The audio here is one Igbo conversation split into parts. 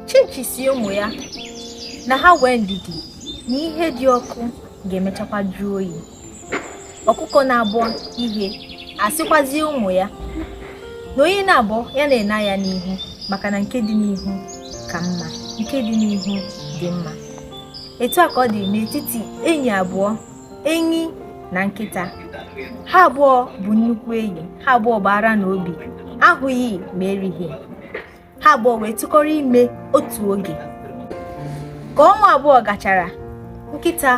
chinchi sị ụmụ ya na ha wee ndidi na ihe dị ọkụ ga-emechakwa jụọ oyi ọkụkọ na-abọ ihe asịkwazie ụmụ ya na onye na-abọ ya na-ene anya n'ihu maka na nke dị n'ihu ka mma nke dị n'ihu dị mma etu a ka ọ dị n'etiti enyi abụọ enyi na nkịta ha abụọ bụ nnukwu enyi ha abụọ bụ ara n'obi ahụghị ma erighị ha abụọ wee tụkọrọ ime otu oge ka ọnwa abụọ gachara nkịta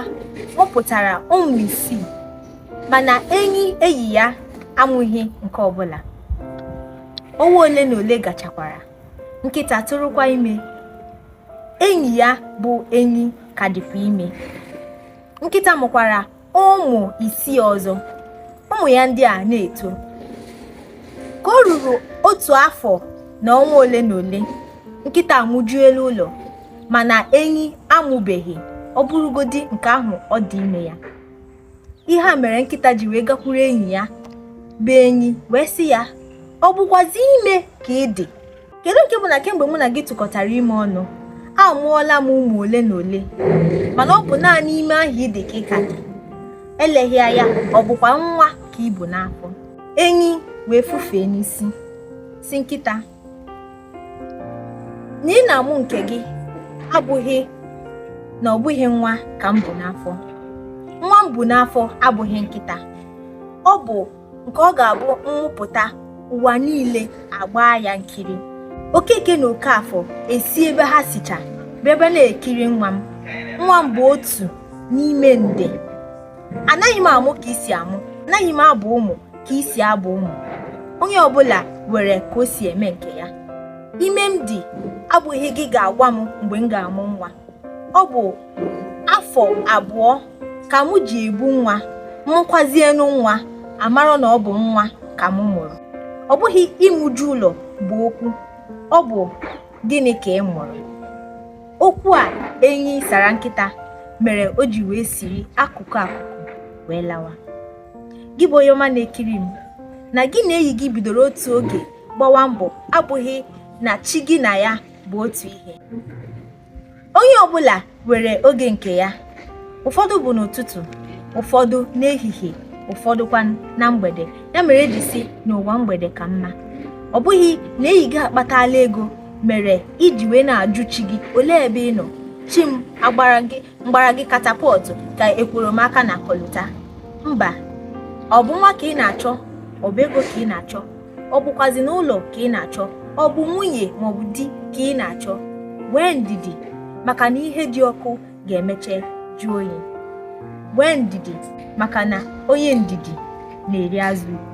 mụpụtara ụmụ isii mana enyi enyi ya amụghị nke ọbụla ọnwa ole na ole gachakwara nkịta tụrụkwa ime enyi ya bụ enyi ka dịkwa ime nkịta mụkwara ụmụ isii ọzọ ụmụ ya ndị a na-eto ka o ruru otu afọ na ọnwa ole na ole nkịta amụjuela ụlọ mana enyi amụbeghị ọ bụrụgodi nke ahụ ọ dị ime ya ihe a mere nkịta ji wee gakwuru enyi ya bụ enyi wee sị ya ọ bụkwazi ime ka ị dị kedu nke bụ na kemgbe mụ na gị tụkọtara ime ọnụ amụọla m ụmụ ole na ole mana ọ bụ naanị ime ahụ ị dị ka ị ka dị eleghị anya ọ bụkwa nwa ka i bu n'afọ enyi wee fufee n'isi sị nkịta na ị na-amụ nke gị abụghị na ọ bụghị nwa ka m bu n'afọ nwa m bu n'afọ abụghị nkịta ọ bụ nke ọ ga-abụ m mụpụta ụwa niile agbaa ya nkiri okeke na okafọ esi ebe ha sicha bịaba na-ekiri nwa m nwa m bụ otu n'ime nde anaghị m amụ ka i si amụ anaghị m abụ ụmụ ka i si abụ ụmụ onye ọbụla were ka o si eme nke ya ime m dị abụghị gị ga-agwa m mgbe m ga-amụ nwa ọ bụ afọ abụọ ka mụ ji ebu nwa mụkwazienu nwa a mara na ọ bụ nwa ka mụ mụrụ ọ bụghị ịmụju ụlọ bụ okwu ọ bụ gịnị ka ị mụrụ okwu a enyi sara nkịta mere o ji wee siri akụkụ akụkụ wee lawa gị bụ onye ọma na-ekiri m na gị na enyi gị bidoro otu oge gbawa mbọ abụghị na chi gị na ya bụ otu ihe onye ọbụla were oge nke ya ụfọdụ bụ n'ụtụtụ ụfọdụ n'ehihie ụfọdụkwa na mgbede ya mere e ji sị na ụwa mgbede ka mma ọ bụghị na enyi gị akpatala ego mere i ji wee na-ajụ chi gị olee ebe ị nọ chi m m gbara gị katapọtụ ka ekworo m aka na kọlụta mba ọ bụ nwa ka ị na-achọ ọ bụ ego ka ị na-achọ ọ bụkwazịnụ ụlọ ka ị na-achọ ọ bụ nwunye maọbụ di ka ị na-achọ nwee ndidi maka na ihe dị ọkụ ga-emeche jụọ oyi nwee ndidi maka na onye ndidi na-eri azụ ukwu